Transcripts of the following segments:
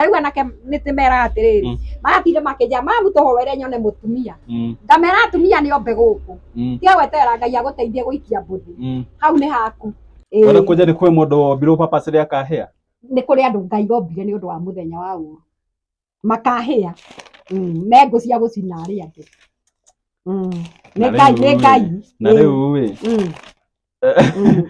rĩu anake nĩ tĩmeraga atĩrĩrĩ Mm. magatinde makĩnja mamu toho were nyone mũtumia Mm, ngamera atumia nĩ ombe gũkũ mm, tiga gweterera ngai agũteithie gũikia mbũthĩ mm. hau nĩ haku Ĩĩ, Wena kuja ni kwe mundu wombirwo purpose ria kahea. nĩ kũrĩ andũ ngai ombire nĩ ũndũ wa mũthenya wa ũru makahĩa Mm, me ngũ cia gũcina arĩa angĩ Mm, Na nĩ ngai rĩu nĩ rĩ, ngai Na Ĩĩ. riu wi Mm. Mm.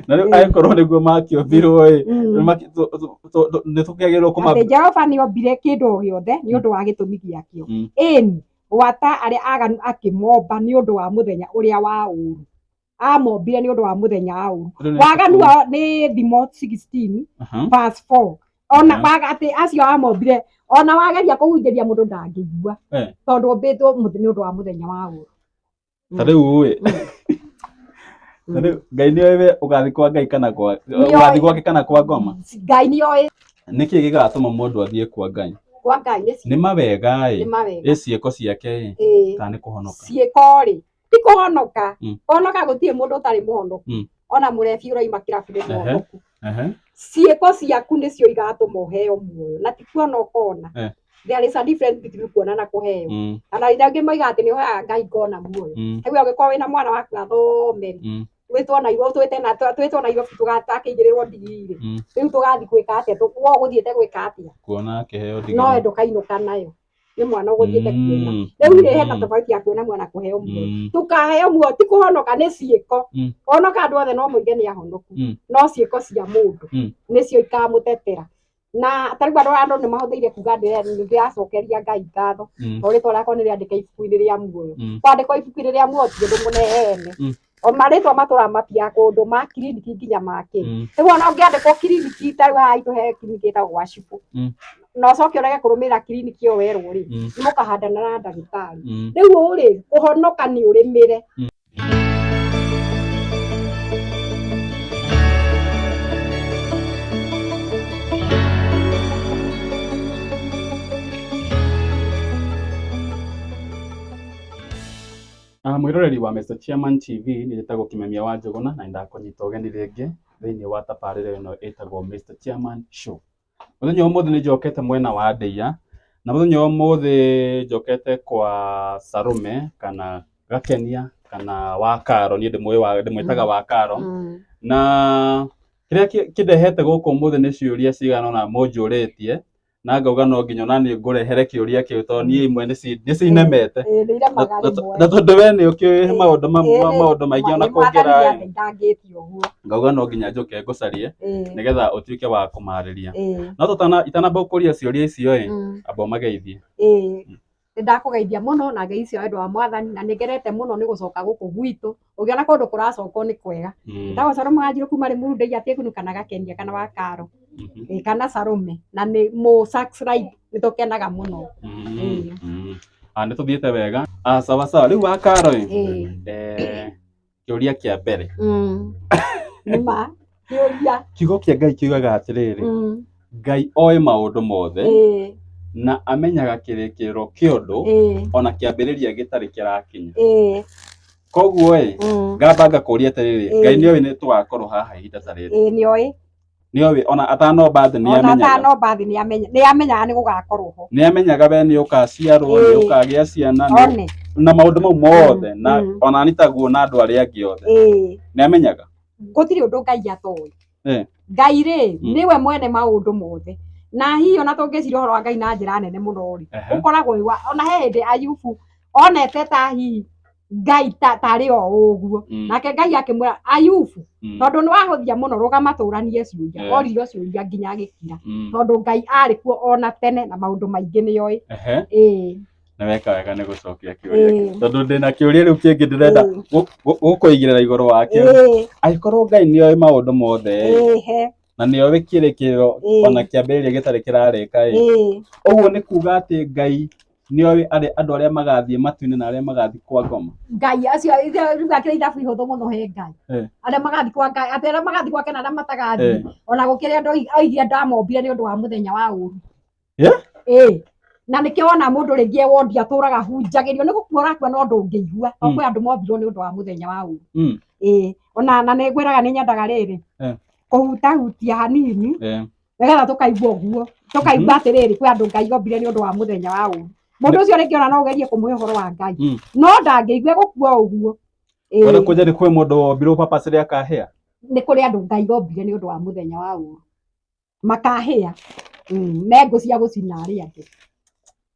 na rĩu Mm. angĩkorwo nĩguo makĩũmbirwo ĩ Mm. maki- tũ- tũ- tũ- tũ- nĩ tũkĩagĩrĩirwo atĩ kũma jehova nĩ ombire kĩndũ o gĩothe nĩ ũndũ wa gĩtũmi gĩakĩo Mm. ĩni gwata arĩa aganu akĩmomba nĩ ũndũ wa mũthenya ũrĩa wa ũru amombire nĩ ũndũ wa mũthenya wa ũru Rĩu nĩ- waganu wao nĩ thimo 16 Aha. verse 4 ona Mhm. waga atĩ acio amombire ona wageria kũhunjĩria mũndũ ndangĩigua Eh. tondũ ũmbĩtwo mũth- nĩ ũndũ wa mũthenya wa ũru ta rĩu ũĩ ta rĩu ngai nĩ oĩ we ũgathiĩ kwa ngai kana kwa Nĩoĩ. ũgathiĩ gwake kana kwa ngoma ngai nĩ oĩ nĩkĩ gĩgatũma mũndũ athiĩ kwa ngai kwa ngai nĩ nĩ mawega ĩ nĩ mawega ĩ ciĩko ciake ĩ Ĩĩ. kana nĩ kũhonoka ciĩko-rĩ ti kũhonoka Mm. kũhonoka gũtirĩ mũndũ ũtarĩ mũhonoku Mm. ona mũrebi ũraima kĩrabu nĩ Ehe. mũhonoku Ehe. ciĩko ciaku nĩcio igatũma ũheo muoyo na ti kuona ũkona Eh. there is a difference between kuona na kũheo Mm, kana iria angĩ moiga atĩ nĩ ũheaga ngai ngona muoyo mm, rĩu angĩkorwo wĩna mwana waku athomeri mm. twĩtwo na igũrũ twĩte na twĩtwo na igũrũ tũgakĩigĩrĩrwo ndigiri Mm. rĩu tũgathiĩ gwĩka atĩa Tũ- we ũgũthiĩte gwĩka atĩa Kuona akĩheo no ndigiri. ndũkainũka nayo nĩ mwana ũgũthiĩte kuona Mm. rĩu rĩ hena Mm. tofauti ya kuona mwana kũheo muoyo Mm. tukaheo muoyo ti kũhonoka nĩ ciĩko Mm. onoka andũ othe no moige nĩ ahonoku Mm. no ciĩko cia mũndũ Mm. nĩcio ikamũtetera na tarĩu andũ andũ nĩ mahũthĩire kuga ndĩracokeria ngai ngatho Mm. o rĩtwa rĩakwa nĩ rĩandĩke ibuku-inĩ rĩa muoyo Mm. kwandĩkwo ibuku-inĩ rĩa muoyo ti ũndũ mũnene Mm. o marĩtwa matũra mapia kũndũ ma kiriniki nginya makĩ Mm. rĩu ona ũngĩandĩkwo kiriniki ta rĩu haha itũ he kiriniki ĩtagwo gwa cibũ Mm. na ũcoke ũrege kũrũmĩrĩra kiriniki ĩyo werwo rĩ Mm. nĩ mũkahandana na ndagĩtarĩ Mm. rĩu ũũ rĩ kũhonoka nĩ ũrĩmĩre Mwĩroreri wa Mr Chairman TV, niĩ njĩtagwo Kimemia wa Njũgũna na nĩ ndakũnyita ũgeni rĩngĩ thĩinĩ wa tabarĩra ĩno ĩtagwo Mr Chairman Show. Mũthenya wa ũmũthĩ nĩ njokete mwena wa Ndeiya, na mũthenya wa ũmũthĩ njokete kwa Salome kana Gakenia kana Wakaro, niĩ ndĩmwĩtaga Wakaro. Na kĩrĩa kĩndehete gũkũ ũmũthĩ nĩ ciũria cigana ũna mũnjũrĩtie, na ngauga no nginya ona niĩ ngũrehere kĩũria kĩu tondũ niĩ imwe nĩci- nĩcinemete Ĩĩ, nĩiremaga Na- rĩmwe. na tondũ we nĩ ũkĩũĩ Ĩĩ, maũndũ ma- ĩĩ, ma- ĩĩ. maũndũ maingĩ ona Nĩ mwathani kũngĩra nĩandeithangĩtie ũguo. ngauga no nginya njũke ngũcarie Ĩĩ, nĩgetha ũtuĩke wa kũmarĩria ĩĩ, no tũtana itanamba gũkũria ciũria icio ĩ mm, amba ũmageithie ĩĩ. Nĩ ndakũgeithia mũno na ngeithi cia wendo wa mwathani na nĩ ngenete mũno nĩ gũcoka gũkũ gwitũ. Ũngĩona kũndũ kũracokwo nĩ kwega. Ndagwa Salome Wanjirũ kuma Limuru Ndeiya Tegunu kana Gakenia kana wa Karo ĩĩ kana Salome na nĩ mũ subscribe nĩ tũkenaga mũno. Nĩ tũthiĩte wega. Sawa sawa, rĩu wa Karo ĩĩ. kĩũria kĩa mbere Mm. Nĩ ma. Kĩũria. kiugo kĩa ngai kiugaga atĩrĩrĩ Mm. ngai oĩ maũndũ mothe Ĩĩ. na amenyaga kĩrĩkĩrĩro kĩa ũndũ Ĩĩ. ona kĩambĩrĩria gĩtarĩ kĩrakinya Ĩĩ. koguo ĩ Mm. ngamba ngakũria atĩrĩrĩ Ĩĩ. ngai nĩoĩ nĩ tũgakorwo haha ihinda ta rĩrĩ Ĩĩ nĩoĩ. nĩoĩ ona atanomba thĩ ona nĩamenyaga atanomba thĩ nĩamenya nĩamenyaga nĩ gũgakorwo ho nĩamenyaga we nĩũkaciarwo Ĩĩ. nĩũkagĩa ciana nĩ- one na maũndũ mau mothe Mm, na mm. ona nĩ taguo na andũ arĩa angĩ othe ĩĩ nĩamenyaga gũtirĩ ũndũ ngai atoĩ Eh. ngai rĩ Mm. nĩwe mwene maũndũ mothe na hihi ona tũngĩcira ũhoro wa ngai na njĩra nene mũno rĩ Ehe. ũkoragwo wĩ wa- ona he hĩndĩ ayubu onete ta hihi ngai ta- tarĩ o ũguo Mm. nake ngai akĩmwĩra ayubu Mm. tondũ nĩ wahũthia mũno rũgama tũranie ciũria Eh. orire ciũria nginya agĩkira Mm. tondũ ngai arĩ kuo ona tene na maũndũ maingĩ nĩ oĩ Ehe. ĩĩ na weka wega nĩ gũcokia kĩũria Ĩĩ. tondũ ndĩ na kĩũria rĩu kĩngĩ ndĩrenda Ĩĩ. gũ- gũ- gũkũigĩrĩra igũrũ wakĩo ĩĩ angĩkorwo ngai nĩ oĩ maũndũ mothe ĩ, ĩĩ he na nĩ oĩ kĩrĩkĩrĩro Ĩĩ. ona kĩambĩrĩria gĩtarĩ kĩrarĩka ĩ, ĩĩ ũguo nĩ kuga atĩ ngai nĩ oĩ arĩ andũ arĩa magathiĩ matu-inĩ na arĩa magathiĩ kwa ngoma ngai acio rĩu akĩrĩ ithabu ihũthũ mũno he ngai Eh. arĩa magathiĩ kwa ngai atĩ arĩa magathiĩ gwake na arĩa matagathiĩ Eh. ona gũkĩrĩa andũ ai- aigire ndamombire nĩ ũndũ wa mũthenya wa ũru Eh? ĩĩ na nĩkĩo wona mũndũ rĩngĩ e wondi atũraga hunjagĩrio nĩ gũkua ũrakua no ndũngĩigua o Mm. kwĩ andũ mombirwo nĩ ũndũ wa mũthenya wa ũru Mm. ĩĩ ona na nĩ ngwĩraga nĩ nyendaga rĩrĩ Eh. kũhutahutia hanini Eh, nĩgetha tũkaigua ũguo tũkaigua mhm. atĩrĩrĩ kwĩ andũ ngai ombire nĩ ũndũ wa mũthenya wa ũru mũndũ ũcio rĩngĩ ona no ũgerie kũmũhe ũhoro wa ngai mm. no ndangĩigua gũkua ũguo wona kwanja nĩ kwĩ mũndũ wombirwo papa cĩrĩ akahĩa nĩ kũrĩ andũ ngai ombire nĩ ũndũ wa mũthenya wa ũru makahĩa mm, me ngũ cia gũcina arĩa angĩ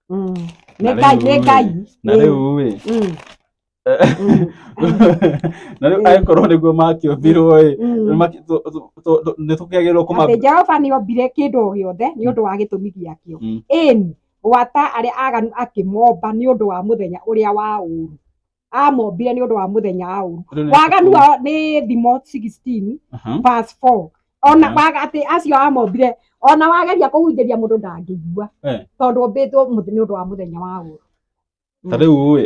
mm. nĩ ngai nĩ ngai na rĩu rĩ Mm. na rä u Mm. angäkorwo nä guo makä å mbirwo ä Mm. nä tå kä agä rwo kå atĩ jehova nĩ ombire kĩndũ o gĩothe nĩ ũndũ wa gĩtũmi gĩakĩo Mm. ĩni gwata arĩa aganu akĩmomba nĩ ũndũ wa mũthenya ũrĩa wa ũru amombire nĩ ũndũ wa mũthenya wa ũru waganu wao nĩ thimo 16 verse 4 ona Mhm. waga atĩ acio amombire ona wageria kũhunjĩria mũndũ ndangĩigua Eh. tondũ ũmbĩtwo mũth- nĩ ũndũ wa mũthenya wa ũru ta rĩu ũĩ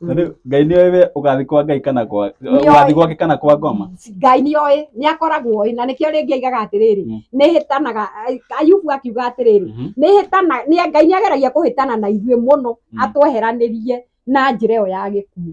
ta rĩu ngai nĩ oĩ we ũgathiĩ kwa ngai kana kwa Nĩoĩ. ũgathiĩ gwake kana kwa ngoma ngai nĩ oĩ nĩ akoragwo oĩ na nĩkĩo rĩngĩ aigaga atĩrĩrĩ Mm. nĩ hĩtanaga ayubu akiuga atĩrĩrĩ Mhm. nĩ hĩtana nĩ ngai nĩ ageragia kũhĩtana na ithuĩ mũno Mm. atweheranirie na njĩra ĩyo ya gĩkuũ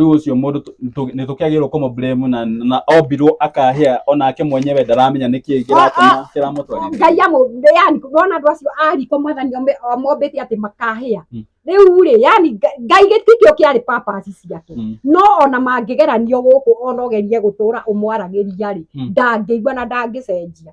rĩu ũcio mũndũ nĩ tũkĩagĩrĩirwo kũmũ blame na na ombirwo akahĩa onake mwenyewe ndaramenya nĩ kĩĩ kĩratũma kĩramũtwarithia ngai amũmbire yani ndona andũ acio ariko mwathani mombĩte atĩ makahĩa hmm. rĩu rĩ yani ngai gĩtikĩo kĩarĩ papasi ciake hmm. no ona mangĩgeranio gũkũ ona ũgerie gũtũra ũmwaragĩria rĩ hmm. ndangĩigua na ndangĩcenjia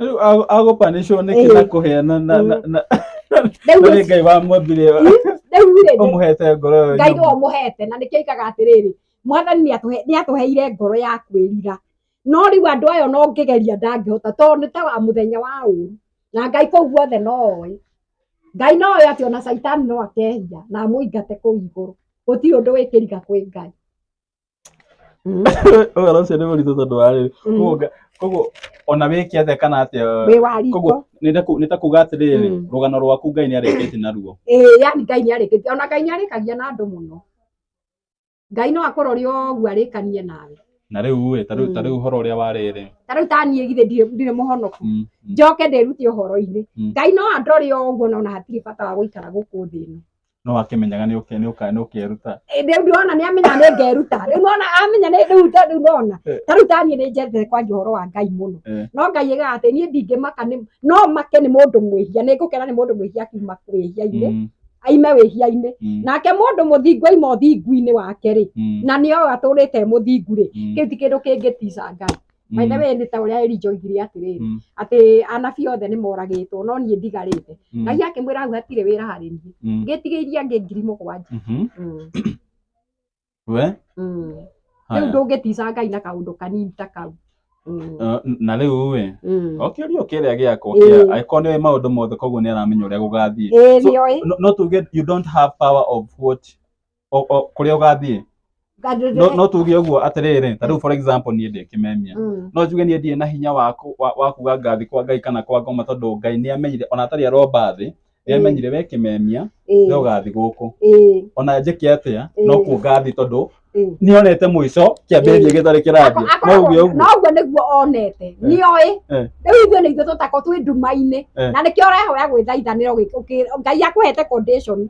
Rĩu a- agopanĩcwo nĩ kĩna Eh. kũheana na na- na Rĩu na nĩ ngai wamwambire rĩu rĩ ũmũhete ngoro ĩyo ngai nyũmũ. nĩwe ũmũhete na nĩkĩo ikaga atĩrĩrĩ mwathani nĩatũhe- nĩatũheire ngoro ya kwĩrira no rĩu andũ ayo no ngĩgeria ndangĩhota tondũ nĩ ta wa mũthenya wa ũru na ngai kũu guothe no oĩ ngai no oĩ atĩ ona caitani no akehia na amũingate kũu igũrũ gũtirĩ ũndũ wĩkĩriga kwĩ ngai Mm. ũhoro ũcio nĩ mũritũ tondũ wa rĩrĩ Mm. Koguo nga- koguo ona wĩke atĩa kana atĩa wĩ wa riko koguo nĩ ta ku- nĩ ta kuga atĩrĩrĩ Mm. rũgano rwaku ngai nĩ arĩkĩte naruo ĩĩ yani ngai nĩ arĩkĩtie ona ngai nĩ arĩkagia na andũ mũno ngai no akũrori ũguo arĩkanie nawe na rĩu ĩ ta rĩu ta Mm. rĩu ũhoro ũrĩa wa rĩrĩ ta rĩu ta niĩ githĩ ndirĩ ndirĩ mũhonoku Mm, mm. njoke ndĩrute ũhoro-inĩ Mm. ngai no andore ũguo na ona hatirĩ bata wa gũikara gũkũ thĩ ĩno no akĩmenyaga nĩ ũke- nĩ ũka- nĩ ũkeruta Ĩ, rĩu ndĩrona nĩ amenya nĩ ngeruta rĩu nona amenya nĩ rĩu ta rĩu nona Eh. ta rĩu ta niĩ nĩ njethete kwanja ũhoro wa ngai mũno Eh. no ngai ĩgaga atĩ niĩ ndingĩmaka nĩ- no make nĩ mũndũ mwĩhia nĩ ngũkena nĩ mũndũ mwĩhia akiuma wĩhia-inĩ Mm, aime wĩhia-inĩ mm, nake mũndũ mũthingu aima ũthingu-inĩ wake rĩ mm, na nĩ o atũrĩte mũthingu rĩ mm. kĩu ti kĩndũ kĩngĩtica ngai By the way nĩ ta ũrĩa Elija oigire atĩrĩrĩ, Mm. atĩ anabii othe nĩ moragĩtwo no niĩ ndigarĩte. Mm. Ngai akĩmwĩra hau hatirĩ wĩra harĩ niĩ. Mm. Ngĩtigĩirie angĩ ngiri mũgwanja. Mhm. Mm. We? Mm. Rĩu Haya. ndũngĩtica Ngai na kaũndũ kanini ta kau. Mm. Eh, na rä u ä Mm. o kä rio kä rä a gä akwo Ĩĩ. angä korwo nä maå ndå mothe koguo nä aramenya å rä a gå gathiä Ĩĩ, nĩoĩ. no tuge you don't have power of what o- o- kũrĩa ũgathiĩ Ngathiĩ- no no tuge ũguo atĩrĩrĩ ta rĩu for example niĩ ndĩ kĩmemia Mm. no njuge niĩ ndirĩ na hinya wa kũ- wa- wa kuga ngathi kwa ngai kana kwa ngoma tondũ ngai nĩ amenyire ona atarĩ aromba thĩ nĩ amenyire we kĩmemia Ĩĩ, we ũgathi gũkũ ĩĩ, ona njĩke atĩa Ĩĩ. no kuo ngathi tondũ ĩĩ. nĩonete mũico kĩambĩrĩria Ĩĩ. gĩtarĩ kĩrambia Ako- no uge akoragwo- ũguo no ũguo nĩguo onete nĩoĩ Eh. rĩu ithuĩ nĩ ithuĩ tũtako twĩ nduma-inĩ Eh. na nĩkĩo ũrehoya gwĩthaithanĩra ũgĩ- ũkĩ- ngai akũhete condition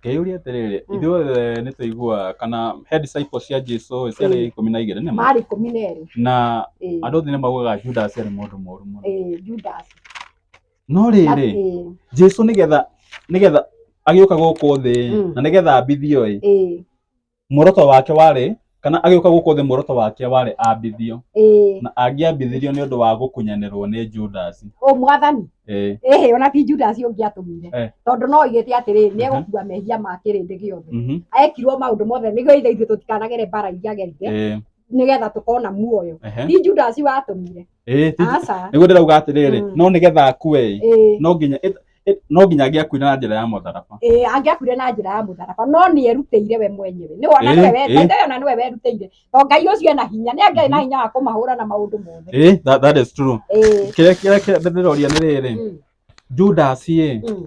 Ngeyũria atĩrĩrĩ, Mm. ithuothe nĩ tũiguaga kana he disciples cia Jesu Mm. ciarĩ ikũmi na igĩrĩ nĩma? marĩ ikũmi na erĩ Na Ĩĩ, andũ othe nĩ maugaga Judas arĩ mũndũ mũũru mũno. ĩĩ, Judas No rĩrĩ, Ĩĩ, Jesu nĩgetha nĩgetha agĩũka gũkũ thĩ Mm. na nĩgetha ambithio ĩ, ĩĩ, muoroto wake warĩ kana agĩũka gũkũ thĩ muoroto wake warĩ ambithio ĩĩ na angĩambithirio nĩ ũndũ wa gũkunyanĩrwo nĩ Judasi o mwathani ĩĩ ĩhĩ ona ti judasi ũngĩatũmire Eh. tondũ no oigĩte atĩrĩ nĩ egũkua mehia ma kĩrĩndĩ gĩothe mhm, ekirwo maũndũ mothe nĩguo ithe ithuĩ tũtikanagere mbara iria agerire ĩĩ nĩgetha tũkona muoyo Ehe. ti judasi watũmire Eh, ti- aca nĩguo ndĩrauga atĩrĩrĩ Mm. no nĩgetha akue ĩ ĩĩ no nginya ĩ- ĩ- no nginya angĩakuire na njĩra ya mũtharaba ĩĩ angĩakuire na njĩra ya mũtharaba no nĩ erutĩire we mwenyewe nĩ wona Ĩĩ, nĩwe we- ĩĩ. maithe ona nĩwe werutĩire to ngai ũcio ena hinya nĩ angĩarĩ na hinya wa kũmahũra na maũndũ mothe ĩĩ that, that is true ĩĩ kĩrĩa kĩrĩa kĩrĩa ndĩroria nĩ rĩrĩ mm, judasi ĩ mm,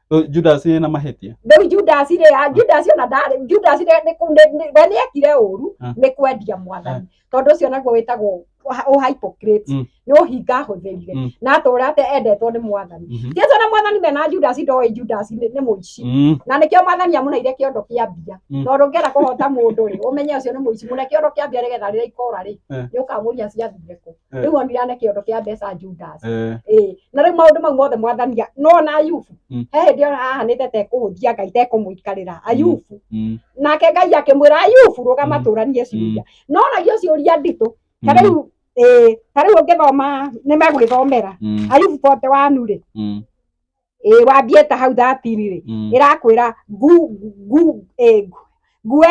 Rĩu Judas na mahĩtia rĩu judasi rĩ a- judasi ona ndarĩ judasi rĩ nĩ kũ- nĩ- nĩ- we nĩ ekire ũru Ah. nĩ kwendia mwathani tondũ ũcio naguo wĩtagwo ũha- ũhypocrite Mm. nĩ ũhinga ahũthĩrire Mm. na atũra ate endetwo nĩ mwathani Mhm. jesu na mwathani mena judasi ndoĩ judasi nĩ nĩ mũici Mm, na nĩkĩo mwathani amunaire kĩondo kĩa mbia Mm. tondũ ngera kũhota mũndũ rĩ ũmenye ũcio nĩ mũici mũne kĩondo kĩa mbia nĩgetha rĩrĩa ikora rĩ Eh. nĩ ũkamũria ciathire kũ Eh. rĩu onire ane kĩondo kĩa mbeca Judas Eh, Ĩĩ, na rĩu maũndũ mau mothe mwathania no na ayubu Mm. he hĩndĩ ona ahanĩte tekũhũthia ngai tekũmũikarĩra ayubu mm, nake ngai akĩmwĩra ayubu rũgama Mm. tũranie ciũria no nagia ciũria nditũ mm, ta rĩu ĩĩ, ta rĩu ũngĩthoma nĩ megwĩthomera mm, ayubu bote wanu rĩ mm, ä wambie ta hau thatiri rä Mm. ä rakwä ra nguo ä yo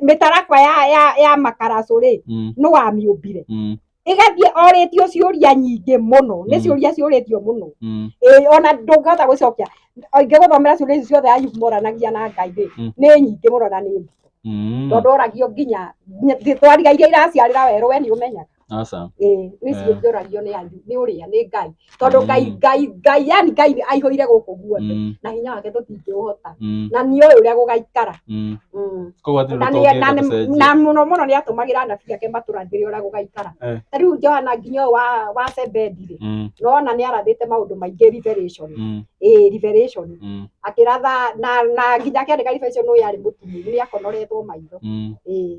mä tarakwa ya- ya- ya makaracå rä Mm. nä wamä å mbire Mm. ä gathiä orä tio ciå ria nyingä må no nä Mm. ciå ria ciå rä tio må no Mm. Ĩĩ, ona ndũngĩhota gwĩcokia ingĩ gũthomera ciũria ici ciothe ayubu moranagia na ngai rĩ Mm. nĩ nyingĩ mũno na nĩ nditũ Mm. tondũ oragio nginya nginya- twarigairia iraciarĩra werũ we nĩ ũmenyaga aca ĩĩ rĩu ici Eh. ingĩũragio nĩ anyu nĩ ũrĩa nĩ ngai tondũ Mm. ngai ngai ngai yani ngai nĩ aihũire gũkũ guothe mm, na hinya wake tũtingĩũhota mm, na nĩ ũĩ ũrĩa gũgaikara mm. Mm. koguo hatirĩ na ũndũ nĩ- na tũngĩka nĩ- tũcenjie na mũno mũno nĩ atũmagĩra anabii ake matũrathĩre ũrĩa gũgaikara Eh. ta rĩu johana nginya ũyũ wa wa sebendire Mm, nona nĩ arathĩte maũndũ maingĩ revelation mm, ĩĩ revelation mm, akĩratha na na nginya akĩandĩka revelation ũyũ arĩ mũtumumu nĩ akonoretwo maitho mm. ĩĩ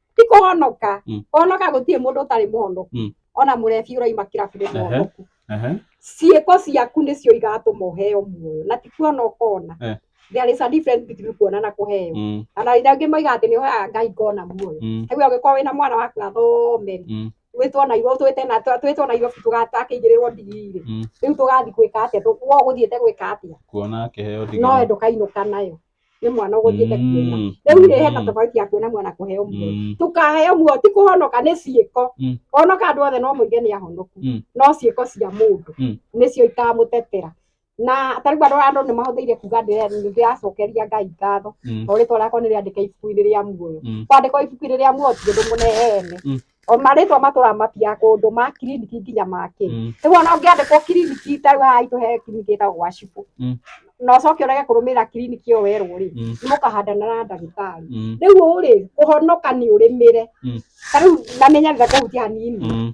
ti kũhonoka Mm. kũhonoka gũtirĩ mũndũ ũtarĩ mũhonoku Mm. ona mũrebi ũraima kĩrabu nĩ Ehe. mũhonoku Ehe. ciĩko ciaku nĩcio igatũma ũheo muoyo na ti kuona ũkona Eh. there is a difference between kuona na kũheo Mm, ana ina angĩ moiga atĩ nĩ ũheaga ngai ngona muoyo mm, rĩu angĩkorwo wĩna mwana waku athomeri Mm. twĩtwo na irwo twĩte na twĩtwo na irwo tũgakĩigĩrĩrwo ndigirĩ Mm. rĩu tũgathiĩ gwĩka atĩa Tũ- wo gũthiĩte gwĩka atĩa kuona kĩheo no ndigiri. ndũkainũka nayo nĩ mwana ũgũthiĩte kuona Mm. rĩu rĩ hena Mm. tofauti ya kuona mwana kũheo muoyo Mm. tukaheo muoyo ti kũhonoka nĩ ciĩko Mm. honoka andũ othe no moige nĩ ahonoku Mm. no ciĩko cia mũndũ Mm. nĩcio ikamũtetera na tarĩu andũ andũ nĩ mahũthĩire kuga ndĩracokeria ngai ngatho Mm. o rĩtwa rĩakwa nĩ rĩandĩke ibuku-inĩ rĩa muoyo Mm. kwandĩkwo ibuku-inĩ rĩa muoyo ti ũndũ mũneene Mm. o marĩtwa matũra mapia kũndũ ma kiriniki nginya makĩ Mm. rĩu ona ũngĩandĩkwo kiriniki ta rĩu haha itũ he kiriniki ĩtagwo gwa cibũ Mm. na ũcoke ũrege kũrũmĩrĩra kiriniki ĩyo werwo rĩ Mm. nĩ mũkahandana na ndagĩtarĩ Mm. rĩu ũũ rĩ kũhonoka nĩ ũrĩmĩre Mm. ta rĩu na nĩ nyarire kũhutia hanini Mm.